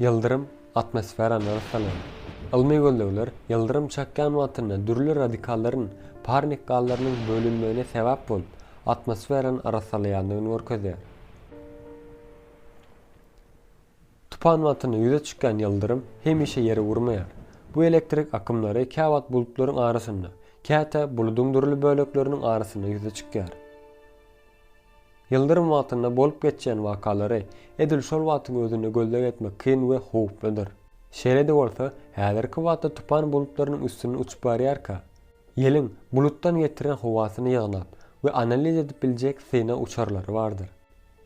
Ýyldyrym atmosferany ysalaýar. Ylmy gözlegler ýyldyrym çakýan wagtynda dürli radikallaryn parnik gazlarynyň bölünmegine sebäp bolup, atmosferany arassalaýandygyny görkezýär. Tupan wagtynda ýüze çykýan ýyldyrym hemişe ýere urmaýar. Bu elektrik akymlary käwagt bulutlaryň arasynda, käte buludyň dürli bölekleriniň arasynda ýüze çykýar. Ýyldyrym wagtynda bolup geçýän wakalary edil şol wagtyň özünde gözleg etmek kyn we howpludyr. Şeýle-de bolsa, häzirki wagtda tupan bulutlarynyň üstünden uçup barýarka, ýeliň bulutdan getiren howasyny ýygnap we analiz edip biljek synag uçarlary bardyr.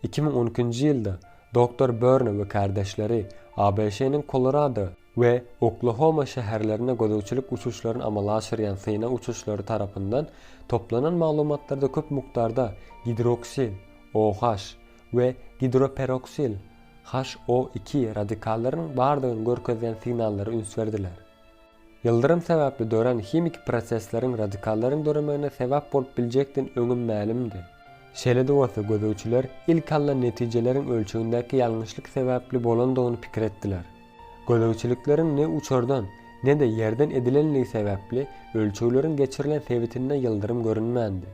Iki müň on ikinji ýylda Doktor Börne we kärdeşleri ABŞ-nyň Kolorado, we Oklahoma şäherlerine gözegçilik uçuşlaryny amala aşyrýan synag uçuşlary tarapyndan toplanan maglumatlarda köp mukdarda gidroksil, OH, we gidroperoksil, HO iki, radikallarynyň bardygyny görkezýän signallara üns berdiler. Ýyldyrym sebäpli dörän himiki prosesleriň radikallaryň döremegine sebäp bolup biljekdini öňem mälimdi. Şeýle-de bolsa, gözegçiler ilki alnan netijeleriň ölçegindäki ýalňyşlyk sebäpli bolandygyny pikir etdiler. Gözegçilikleriň ne uçardan, ne-de ýerden edilenligi sebäpli ölçegleriň geçirilen sebitinde ýyldyrym görünmändi.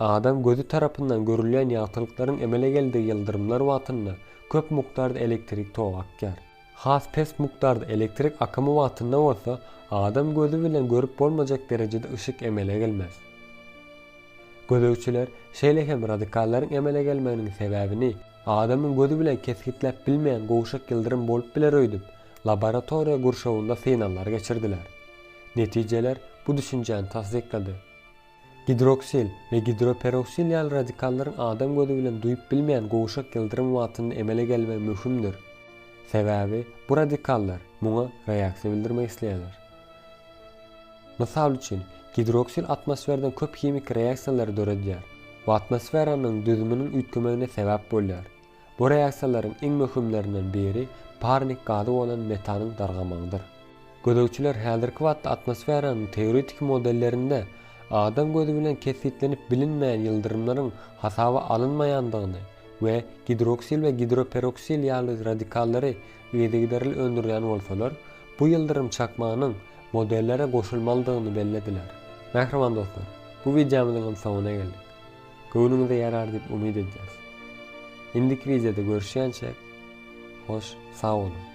Adam gözi tarapyndan görülýän ýagtylyklaryň emele geldigi ýyldyrymlar wagtynda köp mukdarda elektrik togy akýar. Has pes mukdarda elektrik akymy wagtynda bolsa adam gözi bilen görüp bolmajak derejede yşyk emele gelmez. Gözegçiler şeýle hem radikallaryň emele gelmeginiň sebäbini, Adamyň gözi bilen kesgitläp bilmeýän gowşak ýyldyrym bolup biler öýdüp, laboratoriýa gurşawynda synaglar geçirdiler. Netijeler bu düşünjäni tassyklady. Gidroksil we gidroperoksil ýaly radikallaryň adam gözi bilen duýup bilmeýän gowşak ýyldyrym wagtynda emele gelmegi möhümdir. Sebäbi bu radikallar muňa reaksiýa bildirmek isleýärler. Mysal üçin, gidroksil atmosferden köp himiki reaksiýalary döredýär we atmosferanyň düzüminiň üýtgemegine sebäp bolýar. Bu reaksiýalaryň iň möhümlerinden biri parnik gazy bolan metanyň dargamagydyr. Gözegçiler häzirki wagtda atmosferanyň teoretiki modellerinde adam gözi bilen kesgitlenip bilinmeýän ýyldyrymlaryň hasaba alynmaýandygyny we gidroksil we gidroperoksil ýaly radikallary yzygiderli öndürýän bolsalar, bu ýyldyrym çakmanyň modellere goşulmalydygyny bellediler. Mähriban dostlar, bu wideomyzyň hem soňuna geldik. Göwnüňize ýarar diýip umyt edýäs. Indiki wideoda görüşýänçäk, hoş sag boluň!